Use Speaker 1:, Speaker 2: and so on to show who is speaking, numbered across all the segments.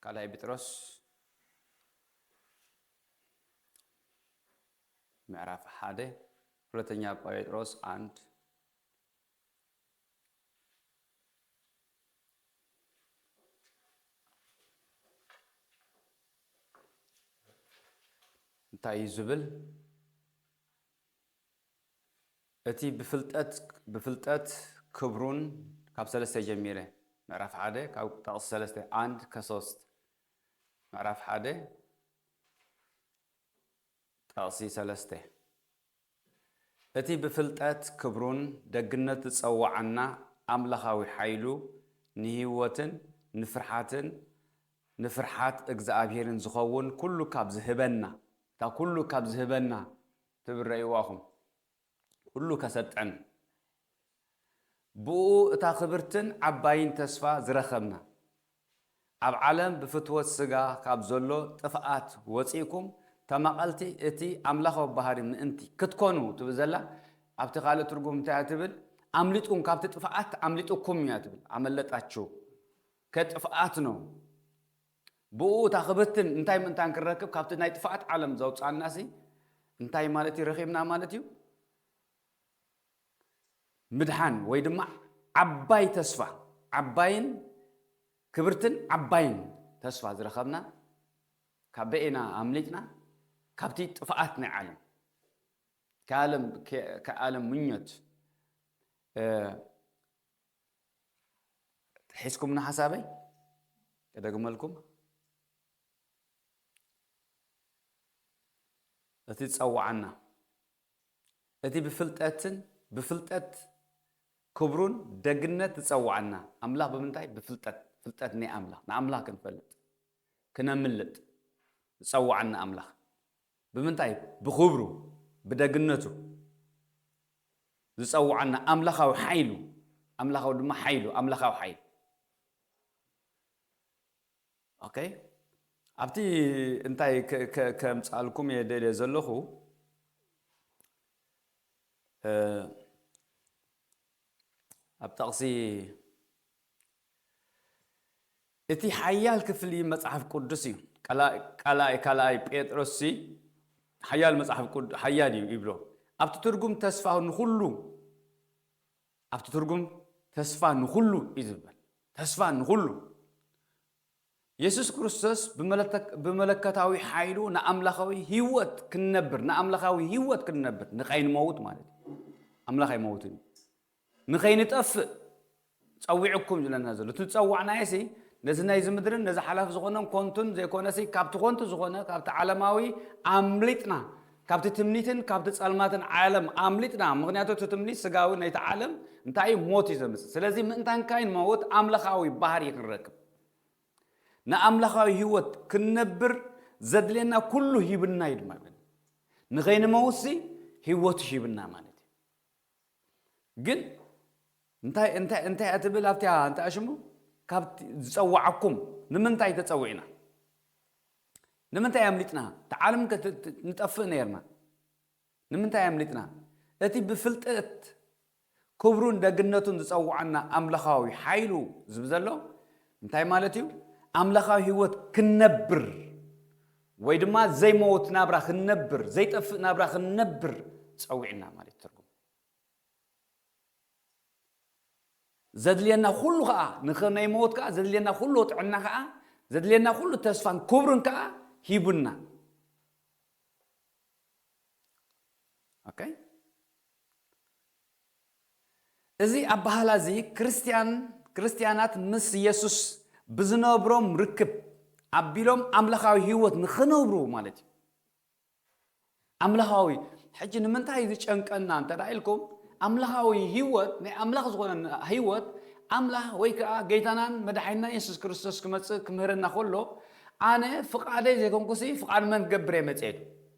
Speaker 1: ካልኣይ ጵጥሮስ ምዕራፍ ሓደ ሁለተኛ ጴጥሮስ አንድ እንታይ እዩ ዝብል እቲ ብፍልጠት ብፍልጠት ክብሩን ካብ ሰለስተ ጀሚረ ምዕራፍ ሓደ ካብ ጠቕሲ ሰለስተ ኣንድ ከሶስት ምዕራፍ ሓደ ጠቕሲ ሰለስተ እቲ ብፍልጠት ክብሩን ደግነት ዝጸዋዓና ኣምላኻዊ ሓይሉ ንህይወትን ንፍርሓትን ንፍርሓት እግዝኣብሄርን ዝኸውን ኩሉ ካብ ዝህበና፣ እታ ኩሉ ካብ ዝህበና ትብል ረእይዋ ኹም፣ ኩሉ ከሰጥዕን፣ ብእኡ እታ ክብርትን ዓባይን ተስፋ ዝረኸብና፣ ኣብ ዓለም ብፍትወት ስጋ ካብ ዘሎ ጥፍኣት ወጺእኩም ተማቐልቲ እቲ ኣምላኽዊ ባህሪ ምእንቲ ክትኮኑ ትብል ዘላ፣ ኣብቲ ካልእ ትርጉም እንታይ እያ ትብል፣ ኣምልጡን ካብቲ ጥፍኣት ኣምሊጡኩም እያ ትብል፣ ኣመለጣችሁ። ከጥፍኣት ነው ብኡ እታ ክብትን እንታይ ምእንታን ክንረክብ ካብቲ ናይ ጥፍኣት ዓለም ዘውፅኣናሲ እንታይ ማለት እዩ ረኺብና ማለት እዩ ምድሓን ወይ ድማ ዓባይ ተስፋ ዓባይን ክብርትን ዓባይን ተስፋ ዝረኸብና ካብ በኤና ኣምሊጥና ካብቲ ጥፍኣት ናይ ዓለም ከዓለም ምኞት ሒዝኩምኒ ሓሳበይ ክደግመልኩም እቲ ዝጸውዓና እቲ ብፍልጠትን ብፍልጠት ክብሩን ደግነት ዝጸውዓና ኣምላኽ ብምንታይ ብፍልጠት ፍልጠት ናይ ኣምላኽ ንኣምላኽ ክንፈልጥ ክነምልጥ ዝጸውዓና ኣምላኽ ብምንታይ ብኽብሩ ብደግነቱ ዝጸውዓና ኣምላኻዊ ሓይሉ ኣምላኻዊ ድማ ሓይሉ ኣምላኻዊ ሓይሉ ኦኬ ኣብቲ እንታይ ከምጻልኩም እየ ደልየ ዘለኹ ኣብ ጠቕሲ እቲ ሓያል ክፍሊ መጽሓፍ ቅዱስ እዩ። ቀላኢ ካልኣይ ጴጥሮስሲ ሓያል መጽሓፍ ቅዱስ ሓያል እዩ ይብሎ። ኣብቲ ትርጉም ተስፋ ንኹሉ ኣብቲ ትርጉም ተስፋ ንኹሉ እዩ ዝበል ተስፋ ንኹሉ የሱስ ክርስቶስ ብመለከታዊ ሓይሉ ንኣምላኻዊ ህይወት ክንነብር ንኣምላኻዊ ህይወት ክንነብር ንኸይንመውት ማለት እዩ ኣምላኽ ኣይመውትን እዩ ንኸይንጠፍእ ጸዊዑኩም ዝብለና ዘሎ። እቲ ዝጸዋዕናዮሲ ነዚ ናይዚ ምድርን ነዚ ሓላፊ ዝኾነን ኮንቱን ዘይኮነሲ ካብቲ ኮንቱ ዝኾነ ካብቲ ዓለማዊ ኣምሊጥና ካብቲ ትምኒትን ካብቲ ጸልማትን ዓለም ኣምሊጥና ምኽንያቱ እቲ ትምኒት ስጋዊ ናይቲ ዓለም እንታይ እዩ ሞት እዩ ዘምጽእ ስለዚ ምእንታን ካይንመውት ኣምለኻዊ ባህሪ ክንረክብ ንኣምላኻዊ ህይወት ክንነብር ዘድልየና ኩሉ ሂብና እዩ ድማ ንኸይንመውትሲ ህይወቱ ሂብና ማለት ግን እንታይ እንታይ እንታይ እያ ትብል ኣብቲያ እንታይ ሽሙ ካብቲ ዝጸዋዓኩም ንምንታይ ተጸዊዕና ንምንታይ ኣምሊጥና ተዓለም ንጠፍእ ነይርና ንምንታይ ኣምሊጥና እቲ ብፍልጠት ክብሩን ደግነቱን ዝጸዋዓና ኣምላኻዊ ሓይሉ ዝብ ዘሎ እንታይ ማለት እዩ ኣምላኻዊ ህይወት ክንነብር ወይ ድማ ዘይመውት ናብራ ክንነብር፣ ዘይጠፍእ ናብራ ክንነብር ጸዊዑና ማለት እዩ ትርጉም። ዘድልየና ኩሉ ከኣ ንክነይመውት ከኣ ዘድልየና ኩሉ ጥዕና ከኣ ዘድልየና ኩሉ ተስፋን ክብርን ከኣ ሂቡና። ኦኬ እዚ ኣበሃህላ እዚ ክርስትያን፣ ክርስትያናት ምስ የሱስ ብዝነብሮም ርክብ ኣቢሎም ኣምላኻዊ ህይወት ንኽነብሩ ማለት እዩ። ኣምላኻዊ ሕጂ ንምንታይ ዝጨንቀና እንተ ኢልኩም ኣምላኻዊ ህይወት ናይ ኣምላኽ ዝኾነ ህይወት ኣምላኽ ወይ ከዓ ገይታናን መድሓኒና የሱስ ክርስቶስ ክመፅእ ክምህረና ከሎ ኣነ ፍቓደይ ዘይኮንኩሲ ፍቓድ መን ክገብር እየ መፅኤ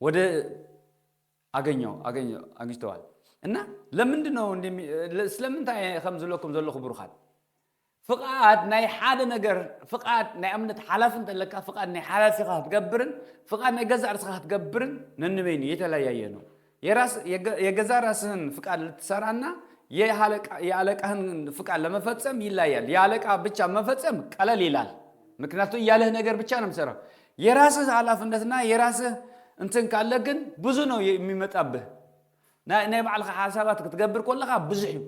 Speaker 1: ወደ ኣገኘው ኣገኘው ኣግኝተዋል እና ለምንድን ነው እንዲህ የሚ- ለ- ስለምንታይ እየ ከም ዝብለኩም ዘለኹ ብሩኻት ፍቓድ ናይ ሓደ ነገር ፍቓድ ናይ እምነት ሓላፊ እንተለካ ፍቓድ ናይ ሓላፊኻ ክትገብርን ፍቓድ ናይ ገዛእ ርስኻ ክትገብርን ነንበይኑ የተለያየ ነው የራስ የገ- የገዛ ራስህን ፍቃድ ልትሰራና የአለቃ- የአለቃህን ፍቃድ ለመፈጸም ይለያል የአለቃ ብቻ መፈጸም ቀለል ይላል ምክንያቱ እያለህ ነገር ብቻ ነው የምትሰራው የራስህ ሃላፍነትና የራስህ እንትን ካለ ግን ብዙ ነው የሚመጣብህ ናይ ባዕልኻ ሓሳባት ክትገብር ኮለኻ ብዙሕ እዩ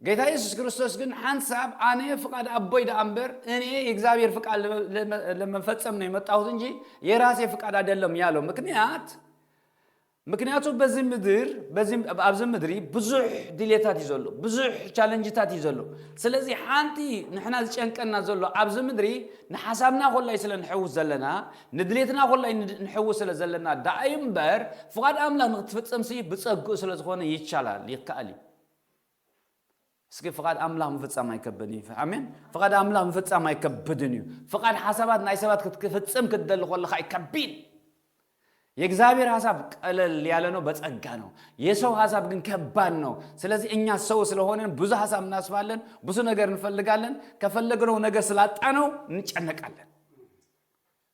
Speaker 1: ጌታ ኢየሱስ ክርስቶስ ግን ሓንሳብ ኣነ ፍቃድ ኣቦይ ደኣ እምበር እኔ የእግዚኣብሔር ፍቃድ ለመፈጸም ነው የመጣሁት እንጂ የራሴ ፍቃድ አይደለም ያለው ምክንያት ምክንያቱ በዚ ምድር በዚ ኣብዚ ምድሪ ብዙሕ ድሌታት እዩ ዘሎ፣ ብዙሕ ቻለንጅታት እዩ ዘሎ። ስለዚ ሓንቲ ንሕና ዝጨንቀና ዘሎ ኣብዚ ምድሪ ንሓሳብና ኮላይ ስለ ንሕውስ ዘለና፣ ንድሌትና ኮላይ ንሕውስ ስለ ዘለና ደኣ'ዩ እምበር ፍቓድ ኣምላኽ ንኽትፍጽምሲ ብጸግኡ ስለ ዝኾነ ይቻላል፣ ይከኣል እዩ። እስኪ ፍቓድ ኣምላኽ ምፍጻም ኣይከብድን እዩ። ኣሜን። ፍቓድ ኣምላኽ ምፍጻም ኣይከብድን እዩ። ፍቓድ ሓሳባት ናይ ሰባት ክትፍጽም ክትደሊ ከለኻ እዩ ከቢድ። የእግዚኣብሔር ሀሳብ ቀለል ያለ ነው፣ በጸጋ ነው። የሰው ሀሳብ ግን ከባድ ነው። ስለዚህ እኛ ሰው ስለሆንን ብዙ ሀሳብ እናስባለን፣ ብዙ ነገር እንፈልጋለን። ከፈለግነው ነገር ስላጣነው እንጨነቃለን።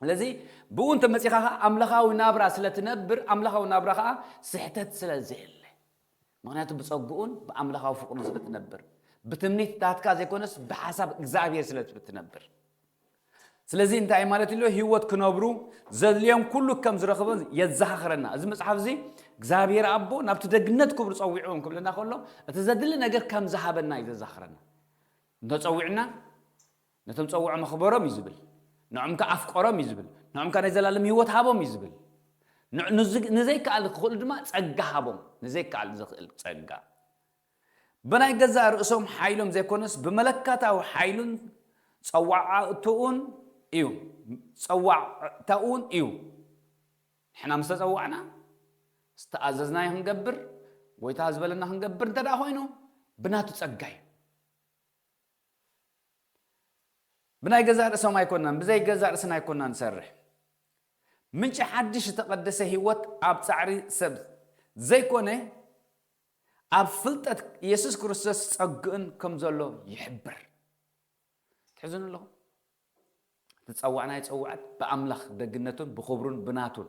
Speaker 1: ስለዚ ብእኡ እንተ መጺኻ ኸኣ ኣምላኻዊ ናብራ ስለ ትነብር፣ ኣምላኻዊ ናብራ ኸኣ ስሕተት ስለ ዘየለ። ምኽንያቱ ብጸግኡን ብኣምላኻዊ ፍቕሩን ስለ ትነብር። ብትምኒትታትካ ዘይኮነስ ብሓሳብ እግዚኣብሄር ስለ ትነብር። ስለዚ እንታይ ማለት ኢሉ ህይወት ክነብሩ ዘድልዮም ኩሉ ከም ዝረኽቡ የዘኻኽረና። እዚ መጽሓፍ እዚ እግዚኣብሄር ኣቦ ናብቲ ደግነት ክብሩ ጸዊዕዎም ክብለና ከሎ እቲ ዘድሊ ነገር ከም ዝሃበና እዩ ዘዘኻኽረና። እንተጸዊዕና ነቶም ጸውዖም ኣኽበሮም እዩ ዝብል። ንዖም ከኣ ኣፍቀሮም እዩ ዝብል። ንዖም ከኣ ናይ ዘላለም ህይወት ሃቦም እዩ ዝብል። ንዘይከኣል ክኽእሉ ድማ ጸጋ ሃቦም፣ ንዘይከኣል ዘኽእል ጸጋ። ብናይ ገዛእ ርእሶም ሓይሎም ዘይኮነስ ብመለከታዊ ሓይሉን ጸዋዕታኡን እዩ፣ ጸዋዕታኡን እዩ። ንሕና ምስ ተጸዋዕና ዝተኣዘዝናዮ ክንገብር፣ ጎይታ ዝበለና ክንገብር እንተደኣ ኮይኑ ብናቱ ጸጋ እዩ። ብናይ ገዛእ ርእሶም ኣይኮናን ብዘይ ገዛእ ርእስና ኣይኮናን ንሰርሕ ምንጪ ሓድሽ ዝተቐደሰ ህይወት ኣብ ጻዕሪ ሰብ ዘይኮነ ኣብ ፍልጠት ኢየሱስ ክርስቶስ ጸግእን ከም ዘሎ ይሕብር ትሕዝኑ ኣለኹም ትጸዋዕናዮ ጸዋዕት ብኣምላኽ ደግነቱን ብኽብሩን ብናቱን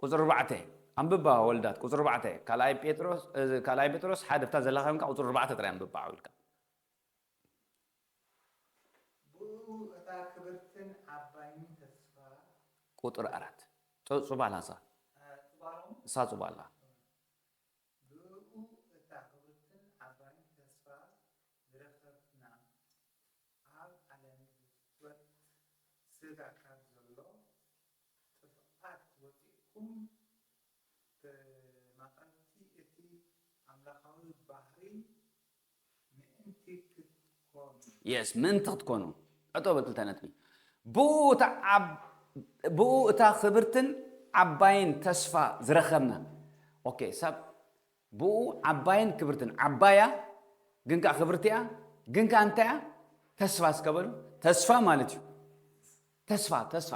Speaker 1: ቁጽሪ ኣርባዕተ ኣንብባ ወልዳት ቁጽሪ ኣርባዕተ ካልኣይ ጴጥሮስ ካልኣይ ጴጥሮስ ሓደ ብታ ዘላካ ኮንካ ቁጽሪ ኣርባዕተ ጥራይ ኣንብባ ዓው ኢልካ። ብእኡ
Speaker 2: እታ ክብርትን ዓባይን ተስፋ። ቁጽሪ
Speaker 1: ኣራት ጥ ጹባላ እሳ ጽባሎም እሳ ጹባላ። ብእኡ እታ ክብርትን ዓባይን ተስፋ ዝረከብና ኣብ ዓለም ብፍትወት ስጋ ካብ ዘሎ ጥፍኣት ወጺእኩም ተማቐልቲ እቲ ኣምላኻዊ ባህሪ ምእንቲ ክትኮኑ። Yes፣ ምእንቲ ክትኮኑ። ዕቶ ብ ክልተ ነጥቢ። ብእኡ እታ ዓብ ብእኡ እታ ክብርትን ዓባይን ተስፋ ዝረኸብና። ኦኬ፣ ሳብ። ብእኡ ዓባይን ክብርትን፣ ዓባይ እያ ግን ከኣ ክብርቲ እያ፣ ግን ከኣ እንታይ እያ? ተስፋ እስከ በሉ። ተስፋ ማለት እዩ። ተስፋ ተስፋ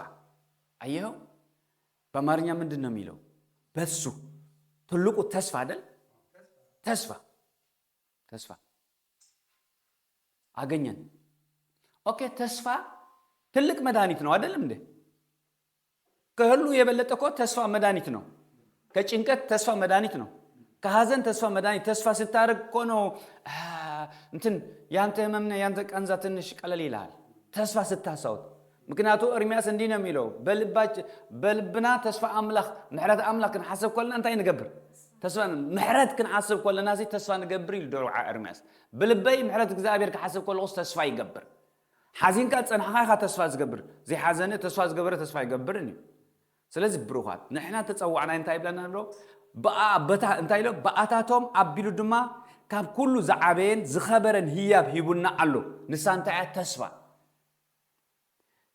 Speaker 1: አየኸው በአማርኛ ምንድን ነው የሚለው? በሱ ትልቁ ተስፋ አይደል? ተስፋ ተስፋ አገኘን። ኦኬ ተስፋ ትልቅ መድኃኒት ነው አይደለም እንዴ? ከሀሉ የበለጠ እኮ ተስፋ መዳኒት ነው ከጭንቀት ተስፋ መዳኒት ነው ከሀዘን ተስፋ መዳኒት ተስፋ ስታደርግ እኮ ነው እንትን ያንተ ህመምነ ያንተ ቀንዛ ትንሽ ቀለል ይልሃል ተስፋ ስታሳውት ምክንያቱ እርሚያስ እንዲህ ነው የሚለው በልባች በልብና ተስፋ አምላክ ምሕረት አምላክ ክንሓስብ ኮለና እንታይ ንገብር ተስፋ ምሕረት ክንሓስብ ኮለና ሲ ተስፋ ንገብር ኢሉ ዶርዓ እርሚያስ ብልበይ ምሕረት እግዚኣብሔር ክሓስብ ከለኹስ ተስፋ ይገብር ሓዚንካ ዝጸናሕኻ ኢኻ ተስፋ ዝገብር ዘይሓዘነ ተስፋ ዝገበረ ተስፋ ኣይገብርን እዩ ስለዚ ብሩኻት ንሕና ተጸዋዕናይ እንታይ ይብለና ኣሎ ብኣ በታ እንታይ ኢሎ ብኣታቶም ኣቢሉ ድማ ካብ ኩሉ ዝዓበየን ዝኸበረን ህያብ ሂቡና ኣሎ ንሳ እንታይ እያ ተስፋ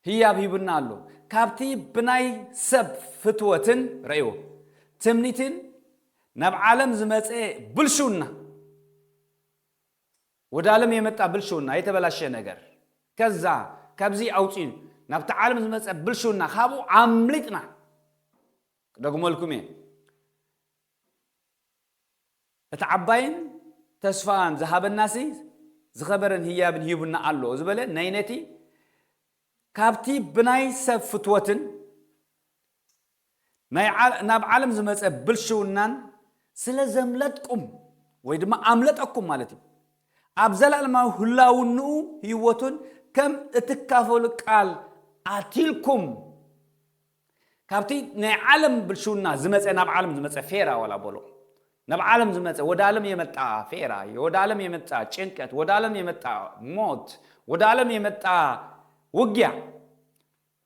Speaker 1: ህያብ ሂቡና ኣሎ ካብቲ ብናይ ሰብ ፍትወትን ረእዎ ትምኒትን ናብ ዓለም ዝመፀ ብልሽውና ወደ ኣለም የመጣ ብልሽውና የተበላሸ ነገር ከዛ ካብዚ ኣውፅዩ ናብቲ ዓለም ዝመፀ ብልሽውና ካብኡ ኣምሊጥና ክደግመልኩም እየ እቲ ዓባይን ተስፋን ዝሃበናሲ ዝኸበረን ህያብን ሂቡና ኣሎ ዝበለ ናይ ነቲ ካብቲ ብናይ ሰብ ፍትወትን ናይ ናብ ዓለም ዝመጸ ብልሽውናን ስለ ዘምለጥቁም ወይ ድማ ኣምለጠኩም ማለት እዩ ኣብ ዘላለማዊ ህላውንኡ ህይወቱን ከም እትካፈሉ ቃል ኣትልኩም ካብቲ ናይ ዓለም ብልሽውና ዝመጸ ናብ ዓለም ዝመጸ ፌራ ወላ በሎ ናብ ዓለም ዝመጸ ወደ ዓለም የመጣ ፌራ ወደ ዓለም የመጣ ጭንቀት ወደ ዓለም የመጣ ሞት ወደ ዓለም የመጣ ውጊያ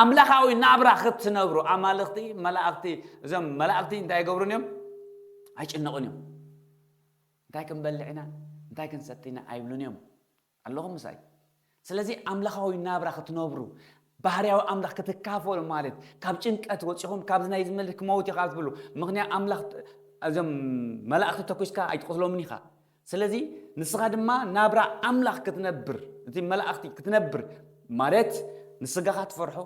Speaker 1: ኣምላኻዊ ናብራ ክትነብሩ ኣማልኽቲ መላእኽቲ እዞም መላእኽቲ እንታይ ይገብሩን እዮም ኣይጭነቑን እዮም እንታይ ክንበልዕ ኢና እንታይ ክንሰቲ ኢና ኣይብሉን እዮም ኣለኹም ምሳይ ስለዚ ኣምላኻዊ ናብራ ክትነብሩ ባህርያዊ ኣምላኽ ክትካፈሉ ማለት ካብ ጭንቀት ወፂኹም ካብዚ ናይ ዝመልክ ክመውት ኢኻ ትብሉ ምክንያት ኣምላኽ እዞም መላእኽቲ ተኩስካ ኣይትቕትሎምን ኢኻ ስለዚ ንስኻ ድማ ናብራ ኣምላኽ ክትነብር፣ እቲ መላእኽቲ ክትነብር ማለት ንስጋኻ ትፈርሖ፣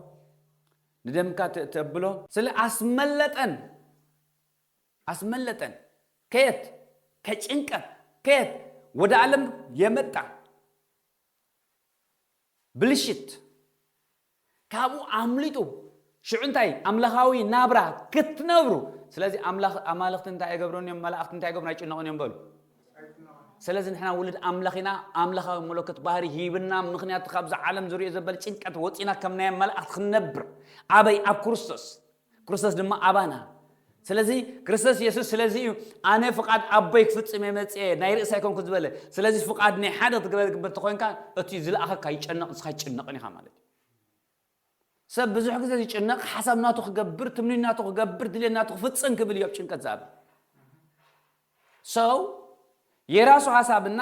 Speaker 1: ንደምካ ተብሎ። ስለ ኣስመለጠን ኣስመለጠን ከየት ከጭንቀን ከየት ወደ ዓለም የመጣ ብልሽት ካብኡ ኣምልጡ ሽዑ እንታይ ኣምላኻዊ ናብራ ክትነብሩ ስለዚ ኣምላኽ ኣማልኽቲ እንታይ ኣይገብሩን እዮም መላእኽቲ እንታይ ይገብሩን ኣይጭነቑን እዮም በሉ ስለዚ ንሕና ውሉድ ኣምላኽ ኢና ኣምላኻዊ መለኮት ባህሪ ሂብና ምክንያቱ ካብዚ ዓለም ዝሪኦ ዘበል ጭንቀት ወፂና ከም ናይ መላእኽቲ ክንነብር ኣበይ ኣብ ክርስቶስ ክርስቶስ ድማ ኣባና ስለዚ ክርስቶስ የሱስ ስለዚ እዩ ኣነ ፍቓድ ኣቦይ ክፍጽም እየ መጽኤ ናይ ርእሲ ኣይኮንኩ ዝበለ ስለዚ ፍቓድ ናይ ሓደ ክትግበር ግበር ተኮይንካ እቲ ዝለኣኸካ ይጨነቕ ንስኻ ይጭነቕን ኢኻ ማለት እዩ ሰብ ብዙሕ ግዜ ዝጭነቕ ሓሳብ ናቱ ክገብር ትምኒ ናቱ ክገብር ድሌት ናቱ ክፍጽም ክብል እዩ ኣብ ጭንቀት ዝኣብ So የራሱ ሀሳብ እና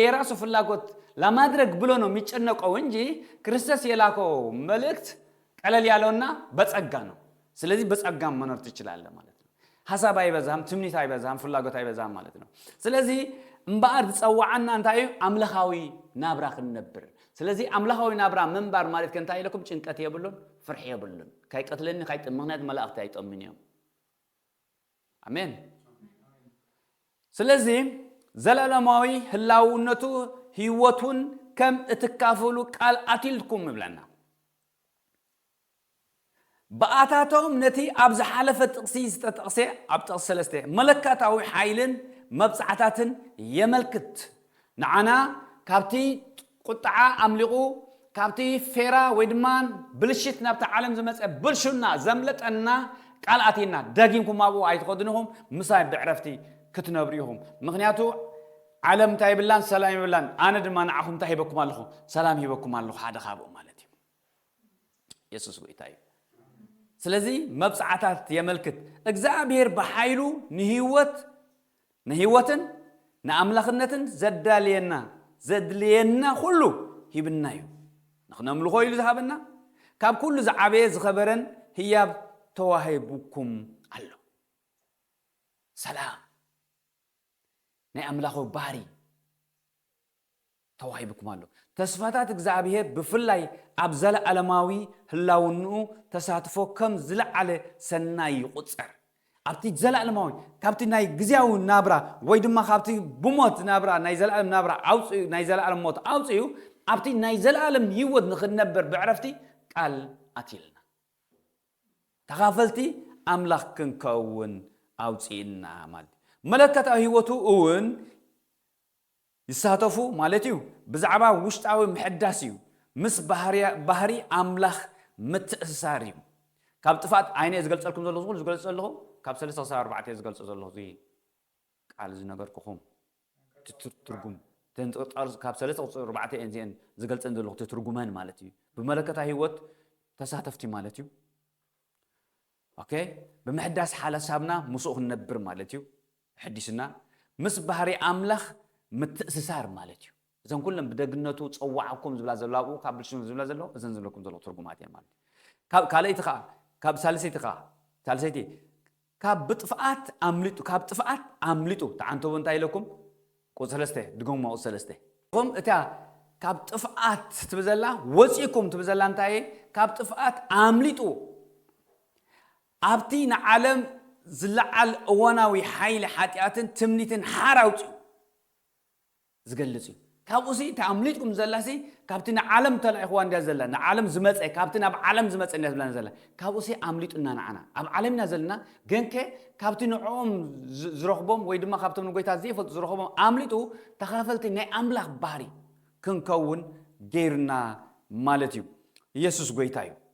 Speaker 1: የራሱ ፍላጎት ለማድረግ ብሎ ነው ሚጨነቀው እንጂ ክርስቶስ የላከው መልእክት ቀለል ያለው እና በጸጋ ነው። ስለዚህ በጸጋም መኖር ትችላለህ ማለት ነው። ሀሳብ አይበዛም፣ ትምኒት አይበዛም፣ ፍላጎት አይበዛም ማለት ነው። ስለዚህ እምበኣር ዝጸዋዓና እንታይ እዩ? ኣምላኻዊ ናብራ ክንነብር። ስለዚ ኣምላኻዊ ናብራ ምንባር ማለት ከ እንታይ ኢለኩም? ጭንቀት የብሉን፣ ፍርሒ የብሉን። ካይቀትለኒ ካይ ምክንያቱ መላእኽቲ ኣይጠምን እዮም። ኣሜን። ስለዚ ዘለኣለማዊ ህላውነቱ ህይወቱን ከም እትካፈሉ ቃል ኣትልኩም እብለና። ብኣታቶም ነቲ ኣብ ዝሓለፈ ጥቕሲ ዝተጠቕሰ ኣብ ጥቕሲ ሰለስተ መለካታዊ ሓይልን መብጽዓታትን የመልክት። ንዓና ካብቲ ቁጥዓ ኣምሊቑ ካብቲ ፌራ ወይ ድማ ብልሽት ናብታ ዓለም ዝመጸ ብልሹና ዘምለጠና ቃል ኣትይና ደጊምኩም ኣብኡ ኣይትኸዱን ኢኹም ምሳይ ብዕረፍቲ ክትነብሩ ኢኹም ምኽንያቱ ዓለም እንታይ ይብላን ሰላም ይብላን ኣነ ድማ ንዓኹም እንታይ ሂበኩም ኣለኹ ሰላም ሂበኩም ኣለኹ ሓደ ካብኡ ማለት እዩ የሱስ ጎይታ እዩ ስለዚ መብጽዓታት የመልክት እግዚኣብሔር ብሓይሉ ንህይወት ንህይወትን ንኣምላኽነትን ዘዳልየና ዘድልየና ኩሉ ሂብና እዩ። ንኽነምልኾ ኢሉ ዝሃበና ካብ ኩሉ ዝዓበየ ዝኸበረን ህያብ ተዋሂቡኩም ኣሎ። ሰላም ናይ ኣምላኽዊ ባህሪ ተዋሂቡኩም ኣሎ። ተስፋታት እግዝኣብሄር ብፍላይ ኣብ ዘለኣለማዊ ህላውንኡ ተሳትፎ ከም ዝለዓለ ሰናይ ይቑጸር። ኣብቲ ዘለኣለማዊ ካብቲ ናይ ግዝያዊ ናብራ ወይ ድማ ካብቲ ብሞት ናብራ ናይ ዘለኣለም ናብራ ኣውጺኡ ናይ ዘለኣለም ሞት ኣውጺኡ ኣብቲ ናይ ዘለኣለም ህይወት ንኽንነበር ብዕረፍቲ ቃል ኣትዩልና። ተኻፈልቲ ኣምላኽ ክንከውን ኣውጺኡና ማለት እዩ። መለከታዊ ህይወቱ እውን ይሳተፉ ማለት እዩ። ብዛዕባ ውሽጣዊ ምሕዳስ እዩ። ምስ ባህሪ ኣምላኽ ምትእስሳር እዩ። ካብ ጥፍኣት ኣይነ እየ ዝገልጸልኩም ዘለኹ ዝኹሉ ዝገልጽ ዘለኹ ካብ ሰለስተ ክሳብ ኣርባዕተ እየ ዝገልጾ ዘለኹ እዚ ቃል ዝነገርኩኹም ትርጉም ካብ ሰለስተ ክሳብ ኣርባዕተ እየን እዚኤን ዝገልጸን ዘለኹ ትትርጉመን ማለት እዩ ብመለከታ ህይወት ተሳተፍቲ ማለት እዩ ኦኬ ብምሕዳስ ሓለሳብና ምስኡ ክንነብር ማለት እዩ ተሐዲስና ምስ ባህሪ ኣምላኽ ምትእስሳር ማለት እዩ። እዘን ኩለን ብደግነቱ ጸዋዓኩም ዝብላ ዘለዋ ኣብኡ ካብ ብልሽኑ ዝብላ ዘለዋ እዘን ዝብለኩም ዘለኹ ትርጉማት እየን ማለት እዩ። ካብ ካልኣይቲ ከኣ ካብ ሳልሰይቲ ከኣ ሳልሰይቲ ካብ ብጥፍኣት ኣምሊጡ ካብ ጥፍኣት ኣምሊጡ ተዓንተቡ እንታይ ኢለኩም ቁጽሪ ሰለስተ ድገሙማ ቁጽሪ ሰለስተ እኹም እታ ካብ ጥፍኣት ትብል ዘላ ወጺእኩም ትብል ዘላ እንታይ እየ ካብ ጥፍኣት ኣምሊጡ ኣብቲ ንዓለም ዝለዓል እዋናዊ ሓይሊ ሓጢኣትን ትምኒትን ሓራ ኣውጺኡ ዝገልጽ እዩ። ካብኡሲ እታ ኣምሊጥኩም ዘላሲ ካብቲ ንዓለም ተላኢኹዋ እንድያ ዘላ፣ ንዓለም ዝመጸ ካብቲ ናብ ዓለም ዝመጸ እንድያ ዝብላና ዘላ። ካብኡሲ ኣምሊጡና ንዓና ኣብ ዓለም ኢና ዘለና ግንከ ካብቲ ንዕኦም ዝረኽቦም ወይ ድማ ካብቶም ንጎይታ ዘይፈልጡ ዝረኽቦም ኣምሊጡ ተኻፈልቲ ናይ ኣምላኽ ባህሪ ክንከውን ገይሩና ማለት እዩ። ኢየሱስ ጎይታ እዩ።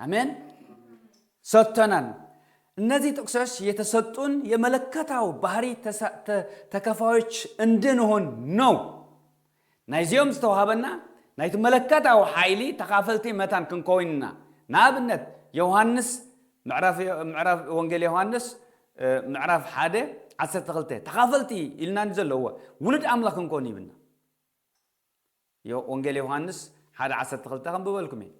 Speaker 1: አሜን ሰጥተናል። እነዚህ ጥቅሶች የተሰጡን የመለከታው ባህሪ ተከፋዮች እንድንሆን ነው። ናይዚኦም ዝተዋሃበና ናይቲ መለከታዊ ሓይሊ ተኻፈልቲ መታን ክንከውን ኢና። ንኣብነት ዮሃንስ ምዕራፍ ወንጌል ዮሃንስ ምዕራፍ ሓደ ዓሰርተ ክልተ ተኻፈልቲ ኢልና ዘለዎ ውሉድ ኣምላኽ ክንከውን ይብልና። እዮ፣ ወንጌል ዮሃንስ ሓደ ዓሰርተ ክልተ ከንብበልኩም እየ።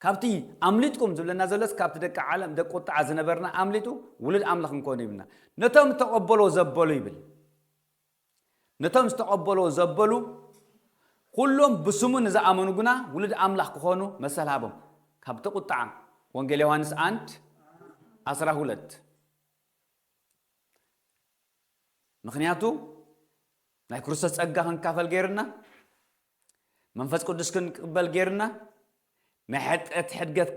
Speaker 1: ካብቲ ኣምሊጥኩም ዝብለና ዘሎስ ካብቲ ደቂ ዓለም ደቂ ቁጥዓ ዝነበርና ኣምሊጡ ውሉድ ኣምላኽ እንኮኑ ይብልና። ነቶም ዝተቐበልዎ ዘበሉ ይብል። ነቶም ዝተቐበልዎ ዘበሉ ኩሎም ብስሙ ንዝኣመኑ ግና ውሉድ ኣምላኽ ክኾኑ መሰል ሃቦም። ካብቲ ቁጥዓ ወንጌል ዮሃንስ ኣንድ ዓስራ ሁለት ምኽንያቱ ናይ ክርስቶስ ጸጋ ክንካፈል ገይርና መንፈስ ቅዱስ ክንቅበል ገይርና ናይ ሕጠት ሕድገት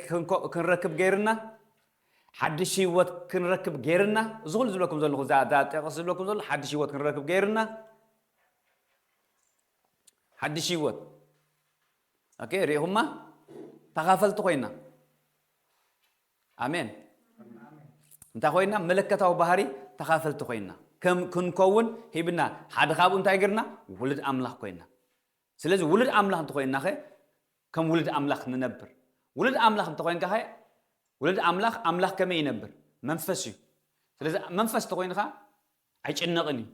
Speaker 1: ክንረክብ ገይርና ሓድሽ ህይወት ክንረክብ ገይርና እዚ ኩሉ ዝብለኩም ዘለኹ እዛ ጠቕስ ዝብለኩም ዘሎ ሓድሽ ህይወት ክንረክብ ገይርና ሓድሽ ህይወት ኦኬ ሪኢኹማ ተኻፈልቲ ኮይና ኣሜን እንታይ ኮይና መለከታዊ ባህሪ ተኻፈልቲ ኮይና ከም ክንከውን ሂብና ሓደ ካብኡ እንታይ ገርና ውሉድ ኣምላኽ ኮይና ስለዚ ውሉድ ኣምላኽ እንተኮይና ከ ከም ውሉድ ኣምላኽ ንነብር ውሉድ ኣምላኽ እንተኮይንካ ከ ውሉድ ኣምላኽ ኣምላኽ ከመይ ይነብር መንፈስ እዩ ስለዚ መንፈስ ተኮይንካ ኣይጭነቕን እዩ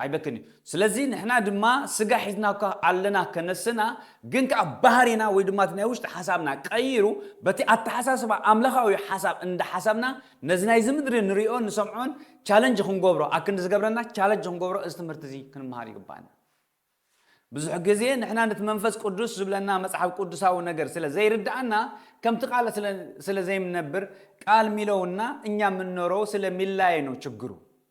Speaker 1: ኣይበክን እዩ ስለዚ ንሕና ድማ ስጋ ሒዝና እኳ ኣለና ከነስና ግን ከኣ ባህሪና ወይ ድማ እቲ ናይ ውሽጢ ሓሳብና ቀይሩ በቲ ኣተሓሳስባ ኣምላኻዊ ሓሳብ እንዳ ሓሰብና ነዚ ናይዚ ምድሪ ንሪኦን ንሰምዖን ቻለንጅ ክንገብሮ ኣክንዲ ዝገብረና ቻለንጅ ክንገብሮ እዚ ትምህርቲ እዚ ክንምሃር ይግባኣና ብዙሕ ግዜ ንሕና ነቲ መንፈስ ቅዱስ ዝብለና መጽሓፍ ቅዱሳዊ ነገር ስለ ዘይርዳኣና ከምቲ ቃል ስለ ዘይምነብር ቃል ሚለውና እኛ ምንኖረው ስለ ሚላየ ነው ችግሩ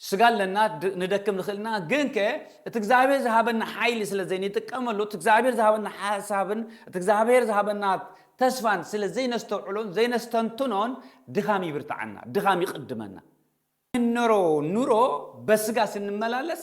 Speaker 1: ስጋ ኣለና ንደክም ንኽእልና ግን ከ እቲ እግዚኣብሔር ዝሃበና ሓይሊ ስለ ዘይንጥቀመሉ እቲ እግዚኣብሔር ዝሃበና ሓሳብን እቲ እግዚኣብሔር ዝሃበና ተስፋን ስለ ዘይነስተውዕሎን ዘይነስተንትኖን ድኻም ይብርትዓና ድኻም ይቕድመና እንኖሮ ኑሮ በስጋ ስንመላለስ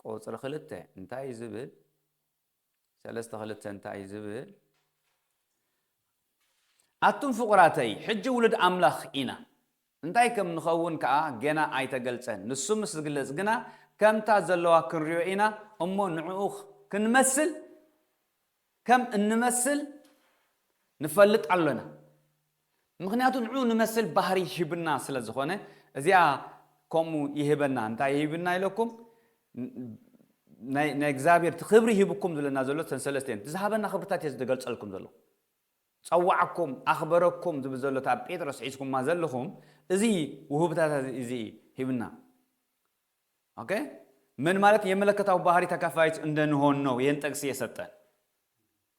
Speaker 1: ቁጽሪ ክልተ እንታይ እዩ ዝብል? ሰለስተ ክልተ እንታይ እዩ ዝብል? ኣቱም ፍቑራተይ፣ ሕጂ ውሉድ ኣምላኽ ኢና፣ እንታይ ከም ንኸውን ከኣ ገና ኣይተገልጸን፣ ንሱ ምስ ዝግለጽ ግና ከምታ ዘለዋ ክንርእዮ ኢና እሞ ንዕኡ ክንመስል ከም እንመስል ንፈልጥ ኣሎና ምክንያቱ ንዑኡ ንመስል ባህሪ ሂብና ስለ ዝኮነ እዚኣ ከምኡ ይህበና እንታይ ሂብና ኢለኩም ናይ ናይ እግዚኣብሔር እቲ ክብሪ ሂብኩም ዝለና ዘሎ ተን ሰለስተ እየን ዝሃበና ክብርታት እየ ዝገልጸልኩም ዘለኹ ጸዋዕኩም ኣኽበረኩም ዝብል ዘሎ እታ ጴጥሮስ ሒዝኩማ ዘለኹም እዚ ውህብታታት እዚ ሂብና ኦኬ ምን ማለት የመለከታዊ ባህሪ ተካፋይት እንደንሆን ነው ይህን ጥቅስ የሰጠ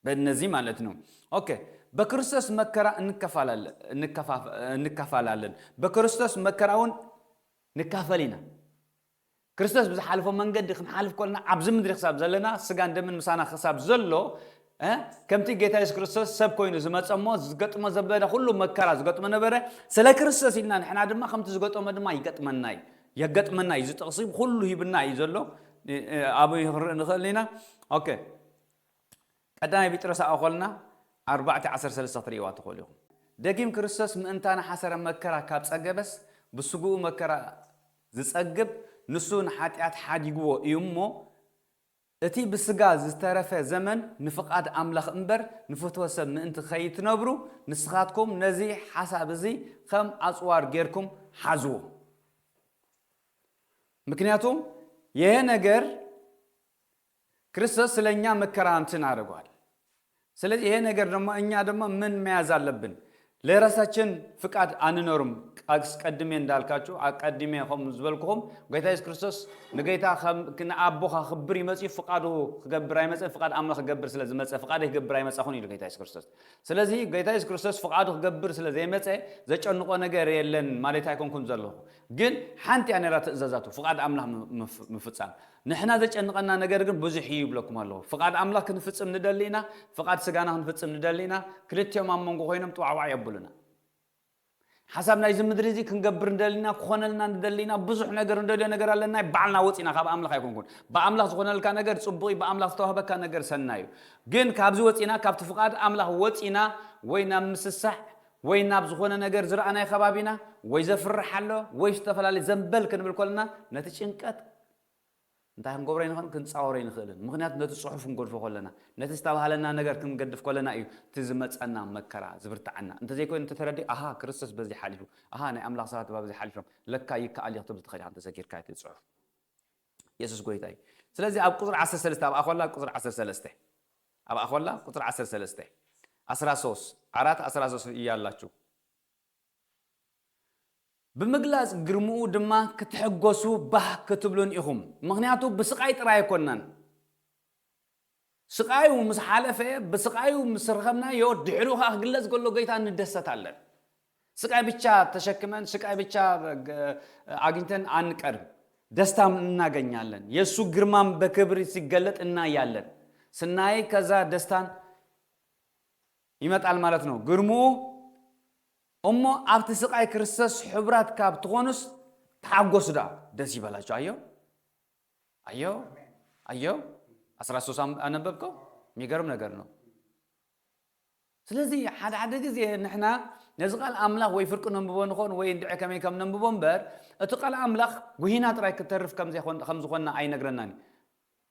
Speaker 1: በእነዚህ ማለት ነው ኦኬ በክርስቶስ መከራ እንከፋላለን በክርስቶስ መከራውን ንካፈል ኢና ክርስቶስ ብዝሓልፎ መንገዲ ክንሓልፍ ኮልና ኣብዚ ምድሪ ክሳብ ዘለና ስጋን ደምን ምሳና ክሳብ ዘሎ ከምቲ ጌታ የሱስ ክርስቶስ ሰብ ኮይኑ ዝመፀ እሞ ዝገጥሞ ዘበለ ኩሉ መከራ ዝገጥሞ ነበረ ስለ ክርስቶስ ኢልና ንሕና ድማ ከምቲ ዝገጠሞ ድማ ይገጥመና እዩ የገጥመና እዩ እዚ ጥቅሲ ኩሉ ሂብና እዩ ዘሎ ኣበይ ክንርኢ ንኽእል ኢና ኦኬ ቀዳማይ ቢጥረስ ኣእኾልና ኣርባዕተ ዓሰርተ ሰለስተ ክትርእይዋ ትኽእሉ ኢኹም ደጊም ክርስቶስ ምእንታና ሓሰረ መከራ ካብ ጸገበስ ብስግኡ መከራ ዝጸግብ ንሱ ንሓጢኣት ሓዲግዎ እዩ እሞ እቲ ብስጋ ዝተረፈ ዘመን ንፍቓድ ኣምላኽ እምበር ንፍትወ ሰብ ምእንቲ ኸይትነብሩ ንስኻትኩም ነዚ ሓሳብ እዚ ኸም ኣጽዋር ጌርኩም ሓዝዎ። ምክንያቱ የሄ ነገር ክርስቶስ ስለ እኛ መከራ እንትን ኣደርጓል። ስለዚ ይሄ ነገር ደማ እኛ ደማ ምን መያዝ ኣለብን ለራሳችን ፍቃድ ኣንኖርም ኣስቀድሜ እንዳልካችሁ ኣቀዲሜ ኸም ዝበልኩኹም ጎይታ የሱስ ክርስቶስ ንገይታ ኸም ንኣቦ ኸክብር ይመጽዩ ፍቃዱ ክገብር ኣይመጸን ፍቃድ ኣምላኽ ክገብር ስለ ዝመጸ ፍቃደይ ክገብር ኣይመጻኹን ኢሉ ጎይታ የሱስ ክርስቶስ ስለዚ ጎይታ የሱስ ክርስቶስ ፍቃዱ ክገብር ስለ ዘይመጸ ዘጨንቆ ነገር የለን ማለት ኣይኮንኩን ዘለኹ ግን ሓንቲ እያ ነራ ትእዛዛቱ ፍቃድ ኣምላኽ ምፍጻም ንሕና ዘጨንቐና ነገር ግን ብዙሕ እዩ ይብለኩም ኣለኹ። ፍቓድ ኣምላኽ ክንፍጽም ንደሊ ኢና፣ ፍቓድ ስጋና ክንፍጽም ንደሊ ኢና፣ ክልቲኦም ኣብ መንጎ ኮይኖም ጥዋዕዋዕ የብሉና። ሓሳብ ናይዚ ምድሪ እዚ ክንገብር ንደሊ ኢና፣ ክኾነልና ንደሊ ኢና፣ ብዙሕ ነገር ንደልዮ ነገር ኣለና፣ ናይ ባዕልና ወጺእና ካብ ኣምላኽ ኣይኮንኩን። ብኣምላኽ ዝኾነልካ ነገር ጽቡቕ እዩ፣ ብኣምላኽ ዝተዋህበካ ነገር ሰናይ እዩ። ግን ካብዚ ወጺእና ካብቲ ፍቓድ ኣምላኽ ወጺእና ወይ ናብ ምስሳዕ ወይ ናብ ዝኾነ ነገር ዝረኣናዮ ከባቢና ወይ ዘፍርሕ ኣሎ ወይ ዝተፈላለየ ዘምበል ክንብል ከለና ነቲ ጭንቀት እንታይ ክንገብሮ ኣይንኽእልን፣ ክንጻወሮ ኣይንኽእልን። ምኽንያቱ ነቲ ጽሑፍ ክንገድፎ ከሎና፣ ነቲ ዝተባህለና ነገር ክንገድፍ ከሎና እዩ እቲ ዝመጸና መከራ ዝብርትዓና። እንተዘይኮይኑ እንተተረዲኡ ኣሃ ክርስቶስ በዚ ሓሊፉ፣ ኣሃ ናይ ኣምላኽ ሰባት ባብዚ ሓሊፎም፣ ለካ ይከኣል እዩ ክትብል ትኽእል ኢኻ እንተዘኪርካ እቲ ጽሑፍ። የሱስ ጎይታ እዩ። ስለዚ ኣብ ቁጽሪ ዓሰርተ ሰለስተ ኣብ ኣኾላ ቁጽሪ ዓሰርተ ሰለስተ ኣብ ኣኾላ ቁጽሪ ዓሰርተ ሰለስተ ኣስራ ሶስት ዓራት ኣስራ ሶስት እያላችሁ ብምግላጽ ግርምኡ ድማ ክትሕጎሱ ባህ ክትብሉን ኢኹም ምኽንያቱ ብስቃይ ጥራይ ኣይኮናን ስቃዩ ምስ ሓለፈ ብስቃዩ ምስ ረኸብናዮ ድሕሪኡ ከኣ ክግለጽ ከሎ ጎይታ ንደሰት ኣለን ስቃይ ብቻ ተሸክመን ስቃይ ብቻ ኣግኝተን ኣንቀርም ደስታም እናገኛለን የሱ ግርማም በክብር ሲገለጥ እናያለን ስናይ ከዛ ደስታን ይመጣል ማለት ነው ግርምኡ እሞ ኣብቲ ስቃይ ክርስቶስ ሕቡራት ካብ ትኾኑስ ተሓጎሱ ደኣ ደስ ይበላችሁ ኣዮ ኣዮ ኣዮ ኣስራ ሶስት ኣም- ኣነበብከው የሚገርም ነገር ነው ስለዚ ሓደ ሓደ ግዜ ንሕና ነዚ ቃል ኣምላኽ ወይ ፍርቂ ነንብቦ ንኾን ወይ እንድዒ ከመይ ከም ነንብቦ እምበር እቲ ቃል ኣምላኽ ጉሂና ጥራይ ክተርፍ ከም ዘይኮን- ከም ዝኾንና ኣይነግረናን እዩ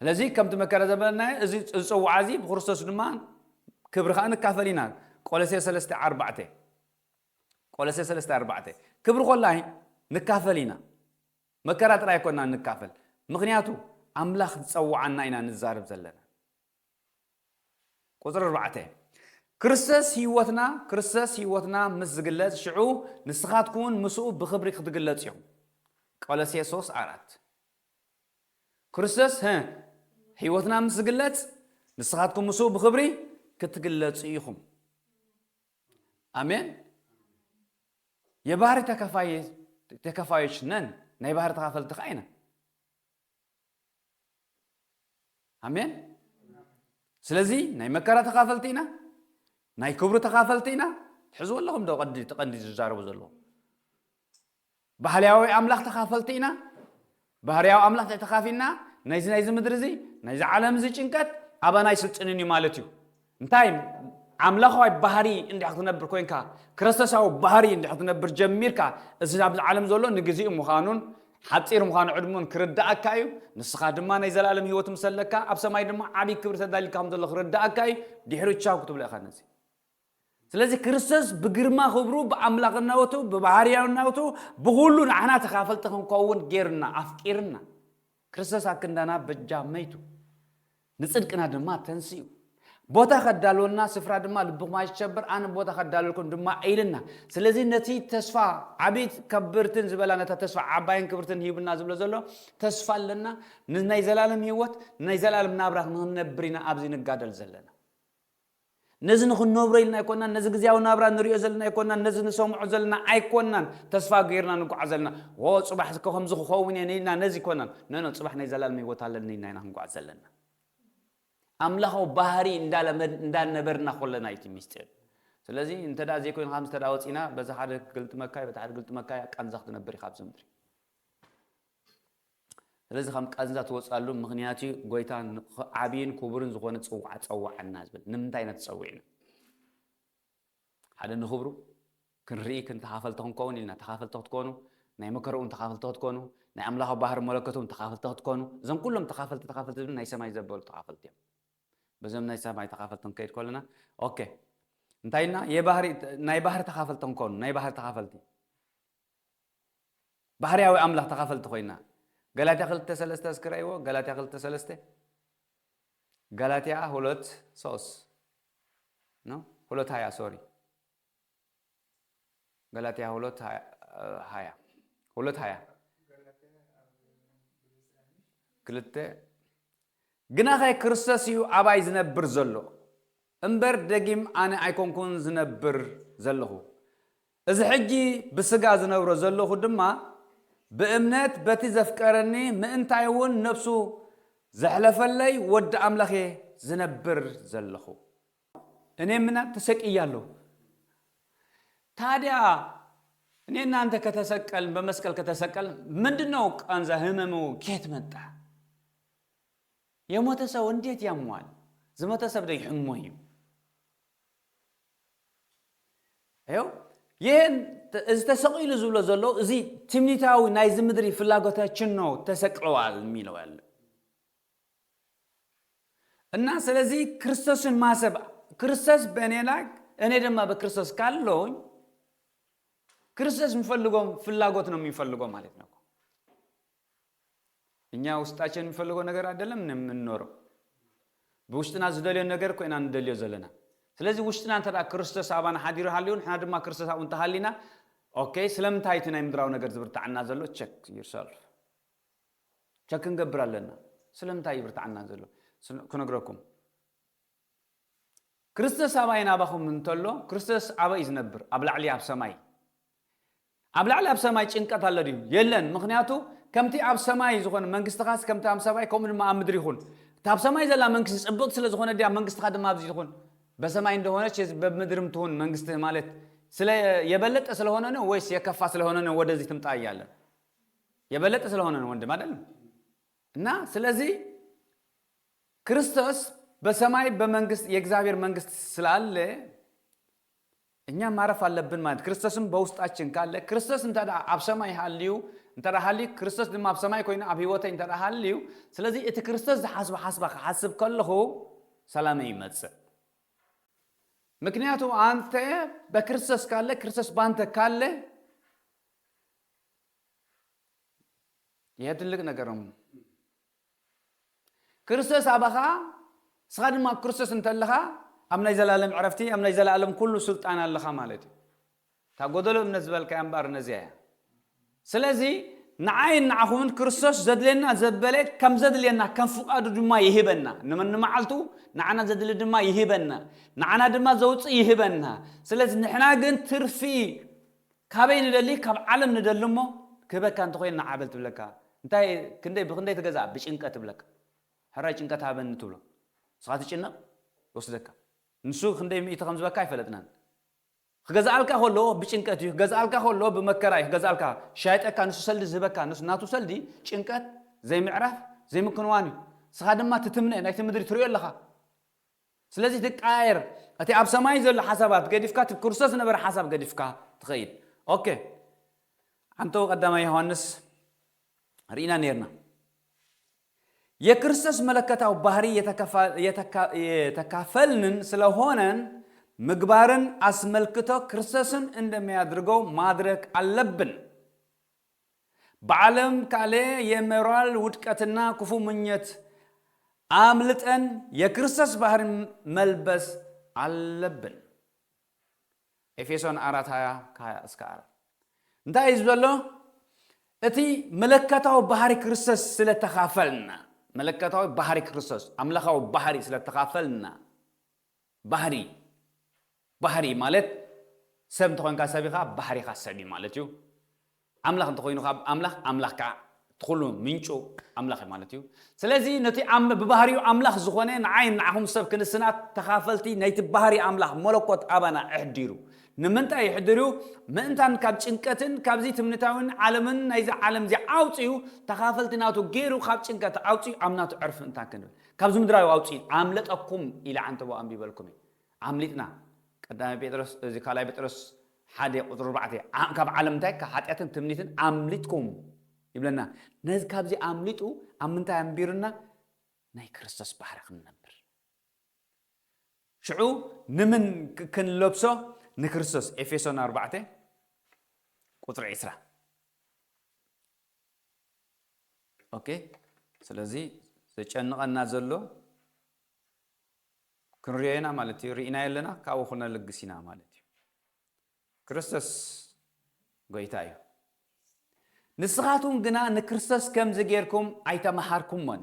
Speaker 1: ስለዚ ከምቲ መከረ ዘበለናዮ እዚ ዝጸውዓ እዚ ብክርስቶስ ድማ ክብሪ ከኣ ንካፈል ኢና ቆለሴ ሰለስተ ዓርባዕተ ቆለሴ ሰለስተ ዓርባዕተ ክብሪ ኮላይ ንካፈል ኢና መከራ ጥራይ ኣይኮናን ንካፈል ምክንያቱ ኣምላክ ዝጸውዓና ኢና ንዛረብ ዘለና ቁጽሪ ኣርባዕተ፣ ክርስቶስ ህይወትና፣ ክርስቶስ ህይወትና ምስ ዝግለጽ ሽዑ ንስኻትኩምውን ምስኡ ብኽብሪ ክትግለጹ ኢኹም። ቆሎሴ ሶስት ኣራት፣ ክርስቶስ ህ ህይወትና ምስ ዝግለጽ ንስኻትኩም ምስኡ ብኽብሪ ክትግለጹ ኢኹም። ኣሜን። የባህሪ ተካፋይ ተካፋዮች ነን፣ ናይ ባህሪ ተካፈልቲ ከኣ ኢና። ኣሜን ስለዚ ናይ መከራ ተኻፈልቲ ኢና ናይ ክብሩ ተኻፈልቲ ኢና ትሕዝዎ ኣለኹም ዶ ቀንዲ እቲ ቀንዲ ዝዛረቡ ዘለዎ ባህርያዊ ኣምላኽ ተኻፈልቲ ኢና ባህርያዊ ኣምላኽ ተኻፊልና ናይዚ ናይዚ ምድሪ እዚ ናይዚ ዓለም እዚ ጭንቀት ኣባና ኣይስልጥንን እዩ ማለት እዩ እንታይ ኣምላኻዊ ባህሪ እንድሕር ክትነብር ኮንካ ክርስቶሳዊ ባህሪ እንድሕር ክትነብር ጀሚርካ እዚ ኣብዚ ዓለም ዘሎ ንግዚኡ ምዃኑን ሓጺር ምዃኑ ዕድሙን ክርዳኣካ እዩ ንስኻ ድማ ናይ ዘላለም ህይወት ምስ ኣለካ ኣብ ሰማይ ድማ ዓብይ ክብሪ ተዳሊልካ ከም ዘሎ ክርዳኣካ እዩ ድሕሪ ቻው ክትብሎ ኢኻ ነዚ ስለዚ ክርስቶስ ብግርማ ክብሩ ብኣምላኽናወቱ ብባህርያውናወቱ ብኹሉ ንዓና ተካፈልቲ ክንከውን ጌርና ኣፍቂርና ክርስቶስ ኣብ ክንዳና በጃ መይቱ፣ ንጽድቅና ድማ ተንሲኡ። ቦታ ከዳልወልና ስፍራ ድማ ልብኹም ኣይሸበር ኣነ ቦታ ከዳልወልኩም ድማ ኢልና ስለዚ ነቲ ተስፋ ዓብይት ከብርትን ዝበላ ነታ ተስፋ ዓባይን ክብርትን ሂብና ዝብሎ ዘሎ ተስፋ ኣለና ንናይ ዘላለም ሂወት ንናይ ዘላለም ናብራ ክንነብር ኢና ኣብዚ ንጋደል ዘለና ነዚ ንኽንነብሮ ኢልና ኣይኮናን፣ ነዚ ግዝያዊ ናብራ ንርእዮ ዘለና ኣይኮናን፣ ነዚ ንሰምዖ ዘለና ኣይኮናን ተስፋ ገይርና ንጉዓዝ ዘለና። ዎ ጽባሕ እኮ ከምዚ ክኸውን እየ ኢልና ነዚ ኣይኮናን፣ ኖኖ ጽባሕ ናይ ዘላለም ህይወት ኣለኒ ኢልና ኢና ክንጉዓዝ ዘለና። ኣምላኻዊ ባህሪ እንዳለመድ እንዳነበርና ኮለና እዩ እቲ ሚስጢር። ስለዚ እንተ ዘይኮይኑ ከምዚ እንተ ወጺና በዚ ሓደ ክግልጥመካ እዩ በቲ ሓደ ክግልጥመካ እዩ ቃንዛ ክትነብር ኢኻ ኣብዚ ምድሪ። ስለዚ ከም ቃንዛ ትወጽኣሉ ምኽንያት እዩ። ጎይታ ዓብይን ክቡርን ዝኾነ ጽውዓ ጸውዓና ዝብል ንምንታይ ኢና ተጸዊዕና? ሓደ ንኽብሩ ክንርኢ ክን ተኻፈልቲ ክንከውን ኢልና ተኻፈልቲ ክትኮኑ ናይ መከራ እውን ተኻፈልቲ ክትኮኑ ናይ ኣምላኻዊ ባህሪ መለኮት እውን ተኻፈልቲ ክትኮኑ እዞም ኩሎም ተኻፈልቲ ተኻፈልቲ ዝብል ናይ ሰማይ ዘበሉ ተኻፈልቲ እዮም። በዞም ናይ ሰማይ ተኻፈልቲ ክንከይድ ከለና ኦኬ እንታይ ኢልና ናይ ባህሪ ተኻፈልቲ ክንኮኑ ናይ ባህሪ ተኻፈልቲ ባህርያዊ ኣምላኽ ተኻፈልቲ ኮይና። ገላትያ ክልተ ሰለስተ እስኪ ረኣይዎ ገላትያ ክልተ ሰለስተ ገላትያ ሁለት ሶስት ነው ሁለት ሀያ ሶሪ ገላትያ ሁለት ሀያ ሁለት ሀያ ክልተ ግናኸ ክርስቶስ እዩ ኣባይ ዝነብር ዘሎ እምበር ደጊም ኣነ ኣይኮንኩን ዝነብር ዘለኹ እዚ ሕጂ ብስጋ ዝነብሮ ዘሎኹ ድማ ብእምነት በቲ ዘፍቀረኒ ምእንታይ እውን ነብሱ ዘሕለፈለይ ወዲ ኣምላኽ እየ ዝነብር ዘሎኹ። እኔ ምናን ተሰቅያለሁ ታዲያ እኔ እናንተ ከተሰቀልን በመስቀል ከተሰቀልን ምንድነው ቃንዛ ህመሙ ኬት መጣ የሞተ ሰው እንዴት ያሟል ዝሞተ ሰብ ደ ይሕሞ እዩ ኣየው ይህን እዚ ተሰቂሉ ዝብሎ ዘሎ እዚ ትምኒታዊ ናይዚ ምድሪ ፍላጎታችን ነው ተሰቅለዋል የሚለው ያለ እና ስለዚህ ክርስቶስን ማሰብ ክርስቶስ በእኔ ላይ እኔ ደማ በክርስቶስ ካለውኝ ክርስቶስ የሚፈልገውም ፍላጎት ነው የሚፈልገው ማለት ነው እኛ ውስጣቸን የሚፈልገው ነገር አይደለም የምንኖረው ብውሽጥና ዝደልዮ ነገር ኮይና ንደልዮ ዘለና ስለዚ ውሽጥና እንተ ክርስቶስ ኣባና ሓዲሩ ሃልዩ ንሕና ድማ ክርስቶስ ኣብኡ እንተሃሊና ኦኬ ስለምንታይ እቲ ናይ ምድራዊ ነገር ዝብርታዓና ዘሎ ቸክ ዩርሰልፍ ቸክ ክንገብር ኣለና ስለምንታይ ይብርታዓና ዘሎ ክነግረኩም ክርስቶስ ኣባይን ኣባኹም እንተሎ ክርስቶስ ኣበይ እዩ ዝነብር ኣብ ላዕሊ ኣብ ሰማይ ኣብ ላዕሊ ኣብ ሰማይ ጭንቀት ኣሎ ድዩ? የለን፣ ምኽንያቱ ከምቲ ኣብ ሰማይ ዝኾነ መንግስትኻስ ከምቲ ኣብ ሰማይ ከምኡ ድማ ኣብ ምድሪ ይኹን። እታ ኣብ ሰማይ ዘላ መንግስቲ ጽብቕቲ ስለ ዝኾነት ድያ መንግስትኻ ድማ ኣብዚ ትኹን? በሰማይ እንደሆነች በምድርም ትሁን መንግስትህ ማለት ስለ የበለጠ ስለሆነ ነው ወይስ የከፋ ስለሆነ ነው ወደዚህ ትምጣ እያለ የበለጠ ስለሆነ ነው ወንድም አይደለም እና ስለዚህ ክርስቶስ በሰማይ በመንግስት የእግዚአብሔር መንግስት ስላለ እኛ ማረፍ ኣለብን ማለት ክርስቶስም በውስጣችን ካለ ክርስቶስ እንተ ኣብ ሰማይ ሃልዩ እንተ ሃልዩ ክርስቶስ ድማ ኣብ ሰማይ ኮይኑ ኣብ ህይወተይ እንተ ሃልዩ ስለዚ እቲ ክርስቶስ ዝሓስቦ ሓስባ ክሓስብ ከለኹ ሰላመይ ይመጽእ ምክንያቱ ኣንተ በክርስቶስ ካለ ክርስቶስ ባንተ ካለ ይሄ ትልቅ ነገር ነው። ክርስቶስ ኣባኻ ንስኻ ድማ ኣብ ክርስቶስ እንተለኻ ኣብ ናይ ዘላለም ዕረፍቲ ኣብ ናይ ዘላለም ኩሉ ስልጣን ኣለኻ ማለት እዩ እታ ጎደሎ እምነት ዝበልካያ እምበኣር ነዚኣ እያ ስለዚ ንዓይን ንዓኹምን ክርስቶስ ዘድልየና ዘበለ ከም ዘድልየና ከም ፍቃዱ ድማ ይህበና ንመዓልቱ ንዓና ዘድሊ ድማ ይህበና ንዓና ድማ ዘውፅእ ይህበና ስለዚ ንሕና ግን ትርፊ ካበይ ንደሊ ካብ ዓለም ንደሊ እሞ ክህበካ እንተኮይኑ ንዓ በል ትብለካ እንታይ ክንደይ ብክንደይ ትገዝኣ ብጭንቀት ትብለካ ሕራይ ጭንቀት ሃበኒ ትብሎ ንስካ ትጭነቅ ይወስደካ ንሱ ክንደይ ሚእቲ ከምዝበካ ኣይፈለጥናን ክገዝኣልካ ከሎ ብጭንቀት እዩ ክገዝኣልካ ከሎ ብመከራ እዩ ክገዝኣልካ ሻይጠካ ንሱ ሰልዲ ዝህበካ ንሱ ናቱ ሰልዲ ጭንቀት ዘይምዕራፍ ዘይምክንዋን እዩ ንስካ ድማ ትትምነ ናይቲ ምድሪ ትሪኦ ኣለካ ስለዚ ትቀያየር እቲ ኣብ ሰማይ ዘሎ ሓሳባት ገዲፍካ እቲ ብክርስቶስ ዝነበረ ሓሳብ ገዲፍካ ትኸይድ ኦኬ ዓንተው ቀዳማይ ዮሃንስ ርኢና ነርና የክርስቶስ መለከታዊ ባህሪ የተካፈልንን ስለሆነን ምግባርን ኣስመልክቶ ክርስቶስን እንደሚያድርገው ማድረግ ኣለብን ብዓለም ካሌ የመራል ውድቀትና ኩፉ ምኞት ኣምልጠን የክርስቶስ ባህሪ መልበስ ኣለብን። ኤፌሶን ኣራት ሃያ ከሃያ እስከ ኣራት እንታይ እዩ ዝበሎ? እቲ መለከታዊ ባህሪ ክርስቶስ ስለ ተኻፈልና መለከታዊ ባህሪ ክርስቶስ ኣምላኻዊ ባህሪ ስለ ተኻፈልና ባህሪ ባህሪ ማለት ሰብ እንተኾንካ ሰብ ኢኻ ባህሪኻ ሰብ እዩ ማለት እዩ። ኣምላኽ እንተኾይኑ ከኣ ኣምላኽ ኣምላኽ ከኣ እቲ ኩሉ ምንጩ ኣምላኽ እዩ ማለት እዩ። ስለዚ ነቲ ብባህሪኡ ኣምላኽ ዝኾነ ንዓይን ንዓኹም ሰብ ክንስናት ተኻፈልቲ ናይቲ ባህሪ ኣምላኽ መለኮት ኣባና ኣሕዲሩ። ንምንታይ የሕድር እዩ? ምእንታን ካብ ጭንቀትን ካብዚ ትምኒታዊን ዓለምን ናይዚ ዓለም እዚ ኣውጺኡ ተኻፈልቲ ናቱ ጌሩ ካብ ጭንቀት ኣውጺኡ ኣብ ናቱ ዕርፍንታ ክንብል። ካብዚ ምድራዊ ኣውጺኢት ኣምለጠኩም ኢለ ዓንተቦ ኣንቢበልኩም እየ። ኣምሊጥና። ቀዳማይ ጴጥሮስ እዚ ካልኣይ ጴጥሮስ ሓደ ቁጽሪ ኣርባዕተ ዓ ካብ ዓለም እንታይ ካብ ሓጢኣትን ትምኒትን ኣምሊጥኩም ይብለና። ነዚ ካብዚ ኣምሊጡ ኣብ ምንታይ ኣንቢሩና ናይ ክርስቶስ ባህሪ ክንነብር። ሽዑ ንምን ክንለብሶ ንክርስቶስ ኤፌሶን ኣርባዕተ ቁጽሪ ዕስራ። ኦኬ ስለዚ ዘጨንቐና ዘሎ ክንሪኦ ኢና ማለት እዩ ርኢናዮ ኣለና ካብኡ ክነልግስ ኢና ማለት እዩ ክርስቶስ ጎይታ እዩ ንስኻትኩም ግና ንክርስቶስ ከምዚ ጌርኩም ኣይተመሃርኩሞን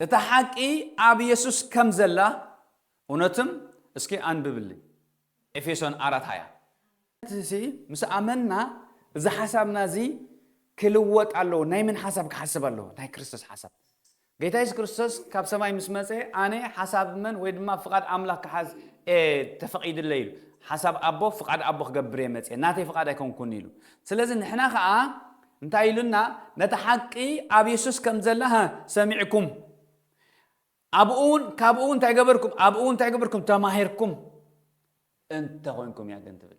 Speaker 1: እታ ሓቂ ኣብ የሱስ ከም ዘላ እውነትም እስኪ ኣንብብልኝ ኤፌሶን ኣራት ሃያ። ነትሲ ምስ ኣመንና እዚ ሓሳብና እዚ ክልወጥ ኣለዎ ናይ ምን ሓሳብ ክሓስብ ኣለዎ ናይ ክርስቶስ ሓሳብ ጌታ የሱስ ክርስቶስ ካብ ሰማይ ምስ መጸ ኣነ ሓሳብ መን ወይ ድማ ፍቓድ ኣምላኽ ክሓዝ ተፈቒድለ ኢሉ ሓሳብ ኣቦ ፍቓድ ኣቦ ክገብር እየ መጸ ናተይ ፍቓድ ኣይኮንኩን ኢሉ ስለዚ ንሕና ከዓ እንታይ ኢሉና ነታ ሓቂ ኣብ የሱስ ከም ዘላ ሃ ሰሚዕኩም ኣብኡ እውን ካብኡ እውን እንታይ ገበርኩም ኣብኡ እውን እንታይ ገበርኩም ተማሂርኩም እንተ ኮንኩም እያ ግን ትብል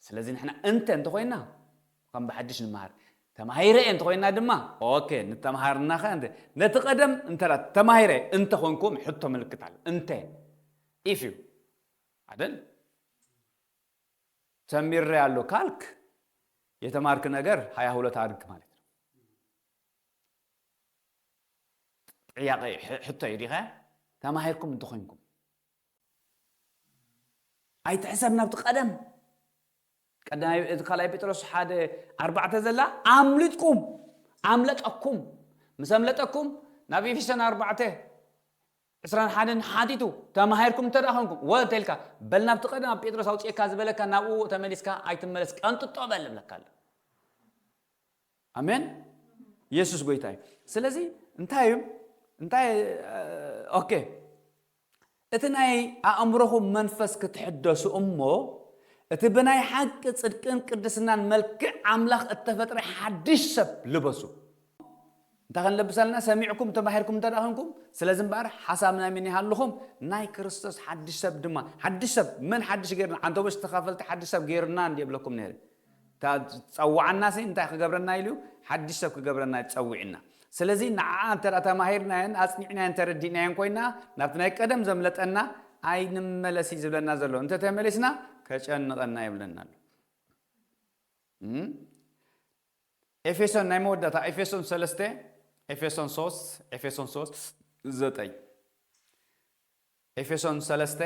Speaker 1: ስለዚ ንሕና እንተ እንተ ኮይና ከም ብሓድሽ ንመሃር ተማሂረ እየ እንተ ኮይና ድማ ኦኬ ንተምሃርና ከ ነቲ ቀደም እንተ ተማሂረ እንተ ኮንኩም ሕቶ ምልክት ኣሎ እንተ ኢፍ እዩ ኣደል ተሚሬያለሁ ካልክ የተማርክ ነገር ሃያ ሁለት ኣድግ ማለት ነው። ጥያቄ ሕቶ እዩ ዲኸ ተማሂርኩም እንተኾይንኩም ኣይትሕሰብ ናብቲ ቀደም ቀዳማይ እቲ ካልኣይ ጴጥሮስ ሓደ ኣርባዕተ ዘላ ኣምልጥኩም ኣምለጠኩም ምስ ኣምለጠኩም ናብ ኤፌሶን ኣርባዕተ ዕስራን ሓደን ሓቲቱ ተማሂርኩም እንተድኣ ኮንኩም ወ እንተኢልካ በል ናብቲ ቀደም ኣብ ጴጥሮስ ኣውጺኤካ ዝበለካ ናብኡ ተመሊስካ ኣይትመለስ ቀንጥጦ በል እብለካ ኣለኩ ኣሜን የሱስ ጎይታ እዩ ስለዚ እንታይ እዩ እንታይ ኦኬ እቲ ናይ ኣእምሮኹም መንፈስ ክትሕደሱ እሞ እቲ ብናይ ሓቂ ጽድቅን ቅድስናን መልክዕ ኣምላኽ እተፈጥረ ሓድሽ ሰብ ልበሱ እንታይ ክንለብስ ኣለና ሰሚዕኩም ተማሂርኩም እንተ ደኣ ዄንኩም፣ ስለዚ እምበኣር ሓሳብ ናይ መን ይሃልኹም? ናይ ክርስቶስ ሓድሽ ሰብ ድማ። ሓድሽ ሰብ፣ መን ሓድሽ ገይሩና? ዓንተቦች ተኻፈልቲ ሓድሽ ሰብ ገይሩና እንድየ እብለኩም ነይረ። እታ ዝጸውዓናሲ እንታይ ክገብረና ኢሉ እዩ? ሓድሽ ሰብ ክገብረና እዩ ተጸዊዑና። ስለዚ ንዓኣ እንተ ደኣ ተማሂርናዮን ኣጽኒዕናዮን ተረዲእናዮን ኰይና፣ ናብቲ ናይ ቀደም ዘምለጠና ኣይንመለስ እዩ ዝብለና ዘሎ። እንተ ተመሊስና ከጨንቐና የብለና ኣሎ። ኤፌሶን ናይ መወዳእታ ኤፌሶን ሰለስተ ኤፌሶን ሶስት ኤፌሶን ሶስት ዘጠኝ ኤፌሶን ሰለስተ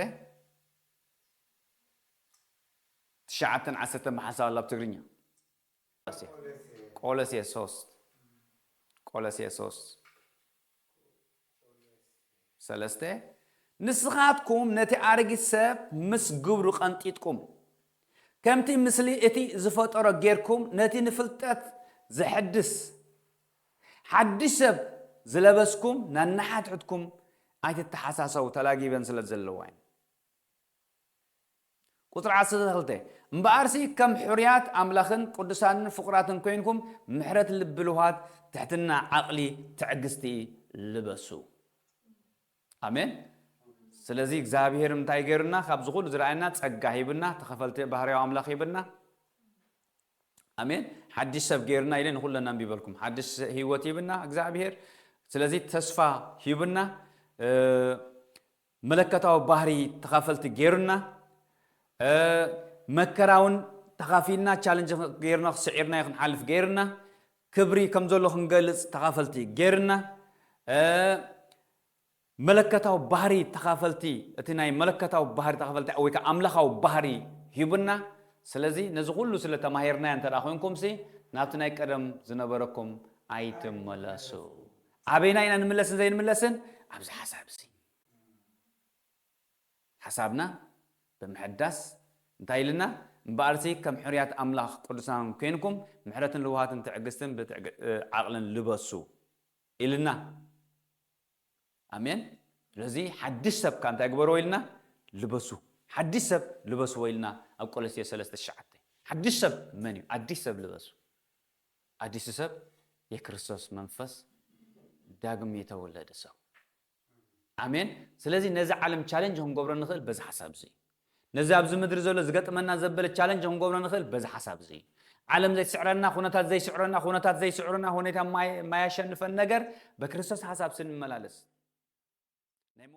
Speaker 1: ትሽዓተን ዓሰርተን ብሓንሳብ ኣላ ብ ትግርኛ ቆለሴ ሶስት ቆለሴ ሶስት ሰለስተ፣ ንስኻትኩም ነቲ ኣረጊት ሰብ ምስ ግብሩ ቀንጢጥኩም፣ ከምቲ ምስሊ እቲ ዝፈጠሮ ጌርኩም ነቲ ንፍልጠት ዘሕድስ ሓድሽ ሰብ ዝለበስኩም ነንሓድሕድኩም ኣይትተሓሳሰቡ ተላጊበን ስለ ዘለዋ እየን። ቁጽሪ ዓሰርተ ክልተ፣ እምበኣርሲ ከም ሕሩያት ኣምላኽን ቅዱሳንን ፍቑራትን ኮይንኩም ምሕረት ልቢ ልውሃት ትሕትና ዓቕሊ ትዕግስቲ ልበሱ። ኣሜን። ስለዚ እግዚኣብሄር እንታይ ገይሩና ካብዚ ኩሉ ዝረኣየና ጸጋ ሂብና ተኸፈልቲ ባህርያዊ ኣምላኽ ሂብና ኣሜን ሓድሽ ሰብ ገይርና ኢለ ንኩለና ኣንቢበልኩም ሓድሽ ህይወት ሂብና እግዚኣብሄር ስለዚ ተስፋ ሂብና መለከታዊ ባህሪ ተኻፈልቲ ገይሩና፣ መከራውን ተኻፊልና ቻለንጅ ገይርና ስዒርናዮ ክንሓልፍ ገይርና፣ ክብሪ ከም ዘሎ ክንገልጽ ተኻፈልቲ ገይርና፣ መለከታዊ ባህሪ ተኻፈልቲ እቲ ናይ መለከታዊ ባህሪ ተኻፈልቲ ወይ ከ ኣምላኻዊ ባህሪ ሂቡና። ስለዚ ነዚ ኩሉ ስለ ተማሂርናዮ እንተ ኮይንኩምሲ ናብቲ ናይ ቀደም ዝነበረኩም ኣይትመለሱ። ኣበይናይ ኢና ንምለስን ዘይንምለስን ኣብዚ ሓሳብ እዚ ሓሳብና ብምሕዳስ እንታይ ኢልና እምበኣርሲ ከም ሕሩያት ኣምላኽ ቅዱሳን ኴንኩም ምሕረትን ልውሃትን ትዕግስትን ዓቕልን ልበሱ ኢልና ኣሜን ስለዚ ሓድሽ ሰብ ከ እንታይ ግበርዎ ኢልና ልበሱ ሓድሽ ሰብ ልበስዎ ኢልና ኣብ ቆሎሴ ሰለስተ ትሽዓተ ሓድሽ ሰብ መን እዩ ኣዲስ ሰብ ልበሱ ኣዲሱ ሰብ የክርስቶስ መንፈስ ዳግም የተወለደ ሰው ኣሜን ስለዚ ነዚ ዓለም ቻለንጅ ክንገብሮ ንኽእል በዚ ሓሳብ እዚ እዩ ነዚ ኣብዚ ምድሪ ዘሎ ዝገጥመና ዘበለ ቻለንጅ ክንገብሮ ንኽእል በዚ ሓሳብ እዚ እዩ ዓለም ዘይትስዕረና ኩነታት ዘይስዕረና ኩነታት ዘይስዕሩና ሁኔታ ማያሸንፈን ነገር በክርስቶስ ሓሳብ ስንመላለስ